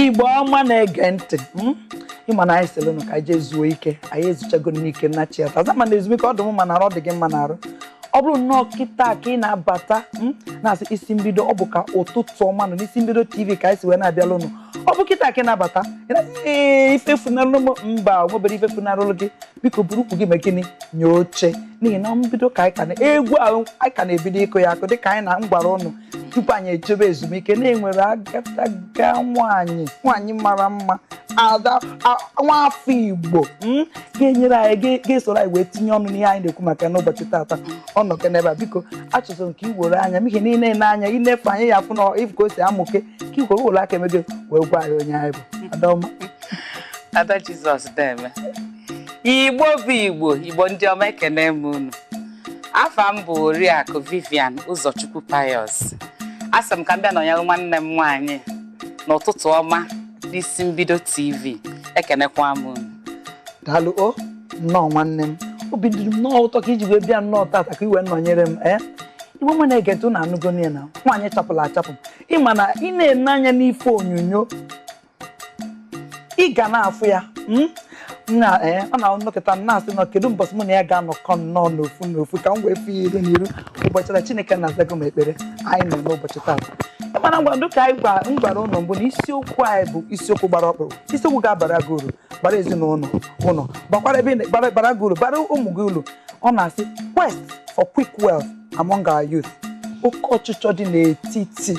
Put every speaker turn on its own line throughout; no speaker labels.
igbo ọma na-ege ntị hmm? ịma na anyị sịrị nụ ka anyị zuo ike anyị ezuchagonụ ike nachiata azụ mana ezumike ọ dị m mma n'arụ dị gị mma n'arụ ọ bụrụ nnọọ kịta ka ị na-abata hmm? na-asị isi mbido ọ bụ ka ụtụtụ ọma nọ n'isi mbido tv ka anyị si wee na-abịalụ ụnụ ọ bụ kịta ka ị na-abata ee ife funarụlụ m mba nwebero ife funarụlụ gị biko buru ukwu gị mee gịnị nye oche n'ihi na mbido ka anyị ka nọ egwu ahụ anyị ka na-ebido ịkụ ya akụ dịka anyị na m gwara ụnụ tupu anyị ejebe ezumike na e nwere agadaga nwanyị nwanyị mara mma ada nwa afọ igbo hmm, ga-enyere anyị ga-esoro anyị wee tinye ọnụ n'ihe anyị na-ekwu maka n'ụbọchị tata ọ nọkwa n'ebe a biko achọzị m ka i were anya m ihe niile na anya i nefe anya ị ya-afụ nya ị fụ ka o si amụke ka i were were aka emego wee gwa anyị onye ị bụ adaọma ada
jizọs deeme igbo bụ igbo igbo ndị ọma ekene m unu afa m bụ oriakụ vivian ụzọchukwu pius asị m ka m bịa nọnyere nwanne m nwaanyị n'ụtụtụ ọma n'isi mbido tv ekenekwa m unu daalụ
o nnọọ nwanne m obi dị m nnọọ ụtọ ka i ji wee bịa nnọọ tata ka i wee nọnyere m ee igbo ọma na-ege ntị unu anụgo nya na nwaanyị chapụlụ achapụ ịma na ị na-ene anya n'ife onyonyo ị ga na-afụ ya hmm? na eh, ọ na-anọkata m na-asị na kedu mbọsị mụ na ya ga-anọkọ nnọọ n'ofu n'ofu ka m wee fụ ya iru n'iru ụbọchị na Chineke nna azago m ekpere anyị nọ n'ụbọchị taa mana ngwanụ dịka anyị gwa- m gwara ụnụ mbụ na isiokwu anyị bụ isiokwu gbara ọkpụrụkpụ isiokwu ga-abara gị uru bara ezinụlọ ụnụ bakwara ebe ị na- bara- bara gị uru bara ụmụ gị uru ọ na-asị quest for quick wealth among our youth oke ọchịchọ dị n'etiti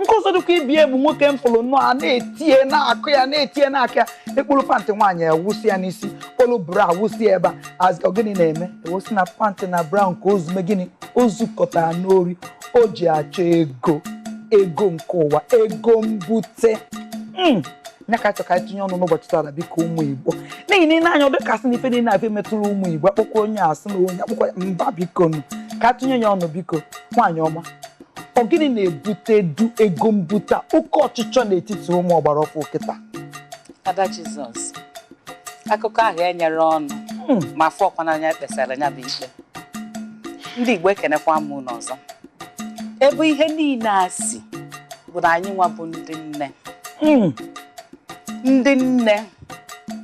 nke ọzọ dịka ibe ya bụ nwoke m fụrụ nnọọ a na-eti nya na-akụ ya na-eti nya na-akụ ya e kpolu pantị nwaanyị awụsị ya n'isi kpolu bra awụsị ya ebe a ọ gịnị na-eme e wee sị na pantị na bra ahụ ka o zu mee gịnị o zukọtara n'ori o ji achọ ego ego nke ụwa ego mbute hmm. nya ka a chọ ka e tinye ọnụ n'ụbọchị taa biko ụmụ igbo n'ihi na ị nee anya ọ dịka a sị na ife niile abịa metụrụ ụmụ igbo a kpọkwa onye a sị na onye a kpọkwa mba biko nụ ka a tụnye ya ọnụ biko nwaanyị ọma ọ gịnị na-ebutedu ego mbute a? oke ọchịchọ n'etiti ụmụ ọgbara ọfụ kịta
ada jizọs akụkọ ahụ enyere ọnụ Hmm. ma a fụkwa n'anya kpesara ya bụ ikpe ndị igbo ekenekwa m unu ọzọ ebe ihe niile a si bụ na anyị nwa bụ ndị nne Mm. ndị nne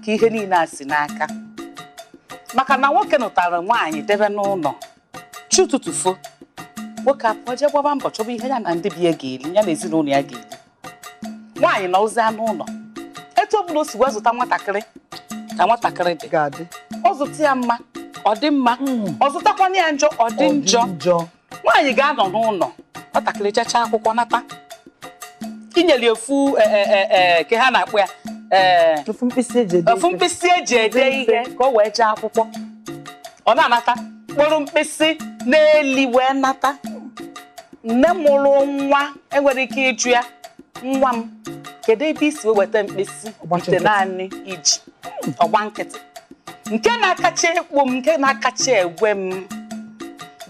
ka ihe niile a si n'aka maka na nwoke nụtara nwaanyị debe n'ụlọ chi ụtụtụ fo nwoke apụọ jee gbaba mbọ chọba ihe ya na ndị be ya ga-eri ya na ezinụlọ ya ga-eri nwaanyị nọzịa n'ụlọ etu ọbụla o si wee zụta nwatakịrị ka nwatakịrị dị ọ zụta ya mma ọ dị mma ọ zụtakwana ya njọ ọ dị njọ nwaanyị ga-anọ n'ụlọ nwatakịrị jechaa akwụkwọ nata inyere ofu eh, eh, eh, eh, ka ha na-akpọ ya eh, ofu mkpịsị eji ede ofu mkpịsị eji ede ihe ka o wee jee akwụkwọ ọ na-anata mkpụrụ mkpịsị n'ili wee nata nne mụrụ nwa enwerọ ike ịjụ ya nwa m kedu ebe isi wee weta mkpịsị itenaanị iji. Ọgbachi nkịtị. ọgba nkịtị nke na-akacha ekpo m nke na-akacha egwe m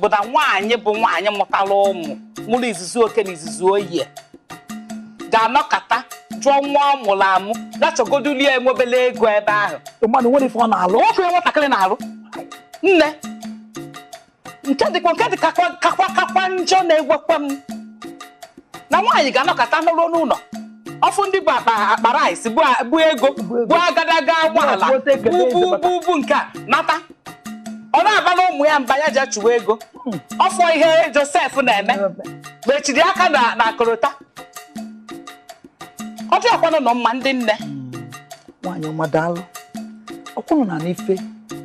bụ na nwaanyị bụ nwaanyị mụtara ụmụ mụrụ izuzu oke na izuzu ohi ga-anọkata jụọ nwa ọ mụrụ amụ gachọgodulie enwebele ego ebe ahụ mmadụ nwere ife ọ na-alụ
nwoke nwatakịrị na-alụ
nne nke dịkwa nke dị kakwa kakwa kakwa njọ na-egwekwa m na nwaanyị ga-anọkọta n'ụlọ n'ụlọ ọfụ ndị bu akpa akpa rice bu a- bu ego bu agadaga ụgbọala bu bu bu bu nke a nata ọ na-abalụ ụmụ ya mba ya je chụwa ego ọfọ ihe Josef na-eme mechiri aka na na korota ọ dịrọkwanụ mma ndị nne
nwaanyị ọma daalụ ọkwụnụ na n'ife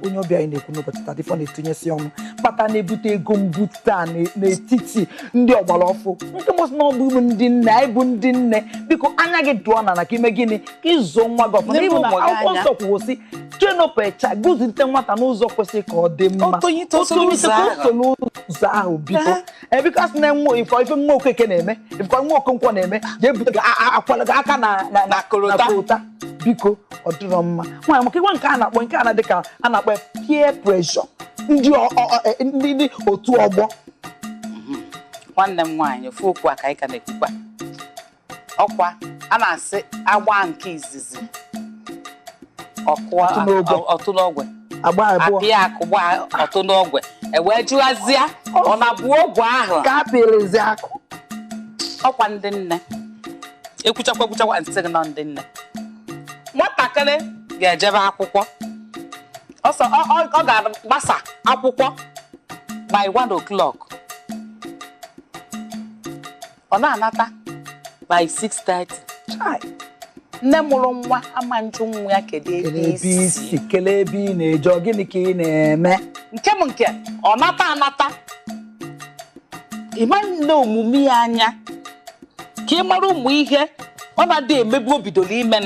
onye ọbịa anyị na-ekwu n'ụbọchị taa ife ọ na-etinyesi ọnụ kpata na-ebute ego mbute a n'e- n'etiti ndị ọgbara ọfụ nke mbụ sị na ọ bụ ụmụ ndị nne anyị bụ ndị nne biko anya gị dụọ na na ka ime gịnị ka ịzụ nwa gị ọfụma Lebe ịbụ na ụmụ gị akwụkwọ anya. nsọ kwuo sị chenopụcha zụlite nwata n'ụzọ kwesịrị ka ọ dị mma Otonye ito soro Otonye ito ụzọ ka o ahụ. soro ụzọ ahụ biko Aha. because na nwa ịfụ ife nwa okeke na-eme ife nwa okonkwo na-eme ga-ebute gị a- a- akwala gị aka na na na korota. na korota biko ọ dịrọ mma nwaanyị maka ịgwa nke a na-akpọ nke a na dịka a na-akpọ ya peer pressure ndị ọ- ọ- ọ- e- ndị ndị otu ọgbọ
nwanne m nwaanyị ofu okwu a ka anyị ka na-ekwukwa ọkwa a na-asị agba nke izizi ọkụọ Ọtụ n'ogwe. ọ- ọtụ n'ogwe agba abụọ apịa akụ gba ọtụ n'ogwe ewee jụazịa ọ na-abụ ogwe ahụ ka a pịrịzi akụ
ọkwa
ndị nne ekwuchakwa ekwuchakwa m sị gị na ọ ndị nne nwatakịrị ga-ejebe akwụkwọ ọsọ ọ- ọ- ọ ga-agbasa akwụkwọ by 1 o'clock ọ na-anata by 6:30 Chai, nne mụrụ nwa ama njụ nwa ya kedu ebe kelee ebe isi isi kelee ebe ị na-eje
ọ gịnị ka ị na-eme nke m
nke ọ nata anata ịma ene omume ya anya ka ị mara ụmụ ihe ọ na-adị emebu o bidoro ime m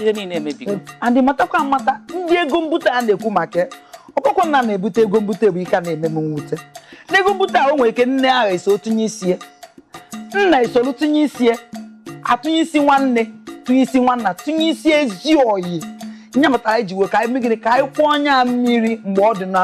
ihe niile emebigo anyị matakwa
amata ndị ego mbute a na-ekwu maka ọkpọkọ nna na-ebute ego mbute bụ ihe na-eme m mwute n'ego mbute a o nwere ike nne ahụ eso tụnye isi e nna esolu tụnye isi e a tụnye isi nwanne tụnye isi nwanna tụnye isi ezi ọyị nya kpatara ji wee ka anyị mee gịnị ka anyị kwọọ nya mmiri mgbe ọ dị na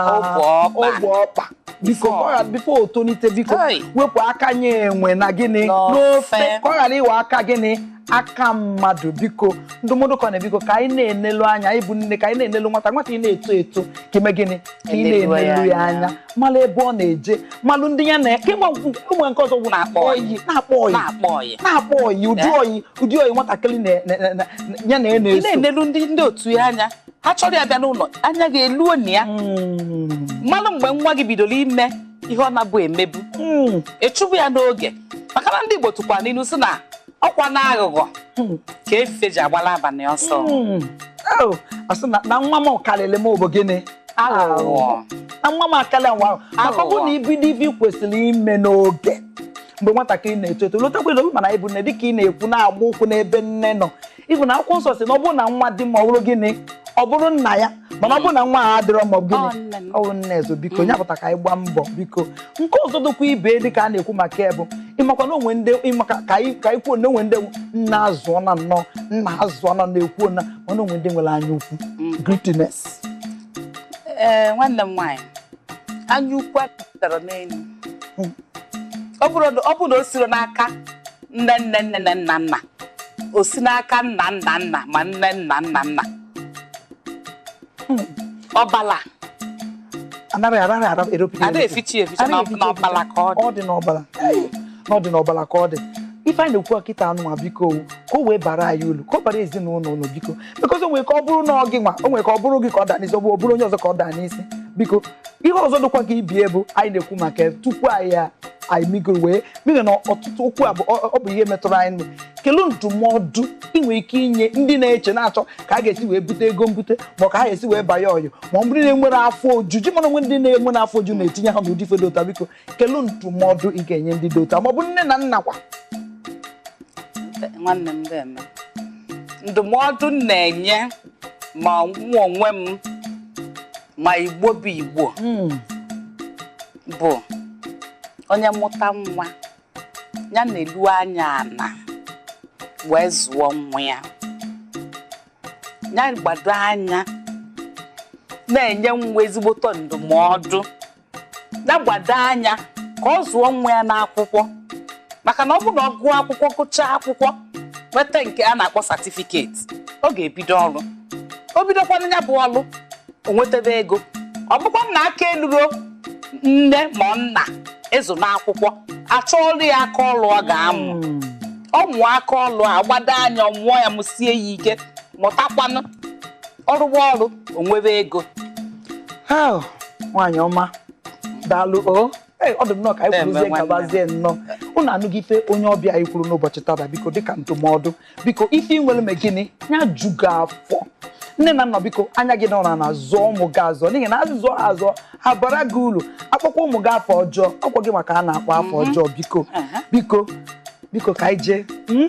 ogbe ọkpa biko before o tolite biko wepụ aka nye enwe na gịnị n'ofe ka ọ ghara ịghọ aka gịnị aka mmadụ biko ndụmọdụ ka na biko ka anyị na-enelu anya anyị bụ nne ka anyị na-enelu nwata nwata ị na-eto eto ka i mee gịnị ka ị Enelu ya na-enelu ya anya. anya malụ ebe ọ na-eje malụ ndị ya na kemgbe ụmụ nke ọzọ bụ na-akpọ ọyị na-akpọ ọyị na-akpọ ọyị na-akpọ ọyị ụdị Eh? ọyị ụdị ọyị nwatakịrị na- na- na- na- ya na ya na-eso na-enelu ndị ndị
otu ya anya ha chọrọ ya bịa n'ụlọ anya gị eluo na ya Mm, malụ mgbe nwa gị bidoro ime ihe ọ na-abụ emebu mm. ịchụbụ ya n'oge maka na ndị Igbo tụkwara n'ilu si na ọkwa na aghụghọ ka efe ji agbala abalị ọsọ hmm.
oh, a sị na nwa m karịrị m ọ bụ gịnị aghụghọ na nwa m akarịa nwa ahụ maka ọ bụrụ na i bido ife i kwesịrị ime n'oge mgbe nwatakịrị na-eto eto lotakwa obi mana ịbụ nne dịka ị na-ekwu na-agba ụkwụ n'ebe nne nọ ị fụ na akwụkwọ nsọ si na ọ bụrụ na nwa dị mma ọ bụrụ gịnị ọ bụrụ nna ya mana ọ bụrụ na nwa adịrọ mma ọ bụ gịnị ọ wụ nne e so biko onye pụta ka anyị gbaa mbọ biko nke ọzọ dịkwa ibe dị ka a na-ekwu maka ya bụ ị makwa na o nwe ndị ịmaka ka anyị ka anyị kwuo na o nwe ndị nna azụọ na nnọọ nna azụọ na na-ekwu na mana o nwe ndị nwere anya ukwu mm. greediness ee
eh, nwanne m nwaanyị anya ukwu apụtara n'elu mm. ọ bụrụ na o sirọ n'aka nne nne nne na nna nna o si n'aka nna nna nna ma nne nna nna nna ọbala anaghị anaghị
ara eropụta ada efichi eficha na ọ-
na ọbala ka ọ dị ọ dị n'ọbala
na ọ dị n'ọbala ka ọ dị ife anyị na-ekwu kịtaa nwa biko o, ka o wee bara anyị ulu ka ọ bara ezinụlọ ulu biko because o nwere ike ọ bụrụ na ọ gị nwa o nwere ike ọ bụrụ gị ka ọ daa n'isi ọ bụ ọ bụrụ onye ọzọ ka ọ daa n'isi biko ihe ọzọ dịkwa ka ibie bụ anyị na-ekwu maka ya tupu anyị a- anyị migoro wee n'ihi na ọtụtụ okwu a bụ ọ- ọ bụ ihe metụrụ anyị nụ kelu ndụmọdụ ị nwere ike inye ndị na-eche na-achọ ka a ga-esi wee bute ego mbute ma ọ ka ha ga-esi wee banye Yahoo ma ọ bụrụ na enwere afọ ojuju mana o nwe ndị na-enwe na afọ ojuju na-etinye ha n'ụdị ife dị otu a biko kelu ndụmọdụ ị ga-enye ndị dị otu a ma ọ bụ nne na nna
kwa nwanne m ga-eme ndụmọdụ m na-enye ma mụ onwe m ma Igbo bụ Igbo hmm. bụ onye mụta nwa nya nelu anya ana wee zụọ nwa ya ya gbado anya na-enye nwa ezigboto ndụmọdụ ya gbado anya ka ọ zụọ nwa ya n'akwụkwọ maka na ọ bụ na ọ gụọ akwụkwọ gụchaa akwụkwọ nweta nke a na-akpọ certificate ọ ga-ebido ọrụ o bidokwanụ ya bụ ọrụ o nwetebe ego ọ bụkwa na aka eluro nne ma nna ịzụ n'akwụkwọ a chọọrụ ya aka ọrụ ọ ga-amụ ọ mụọ aka ọrụ a gbado anya ọ mụọ ya mụsie ya ike mụtakwanụ ọ rụwa ọrụ o nwebe ego
nwaanyị ọma daalụ o ọ dị nnọọ ka anyị kwuruzie gabazie nnọọ ụnụ anụgo ife onye ọbịa anyị kwuru n'ụbọchị taata biko dịka ndụmọdụ biko ife i nwere mee gịnị ya ju gị afọ nne na nna biko anya gị nọrọ na zụọ ụmụ gị azụ n'ihi na azụzụ azụ abara gị uru a kpọkwa ụmụ gị afa ọjọọ ọkwa gị nwa ka a na-akpọ afa mhm. ọjọọ biko biko biko ka anyị jee hmm?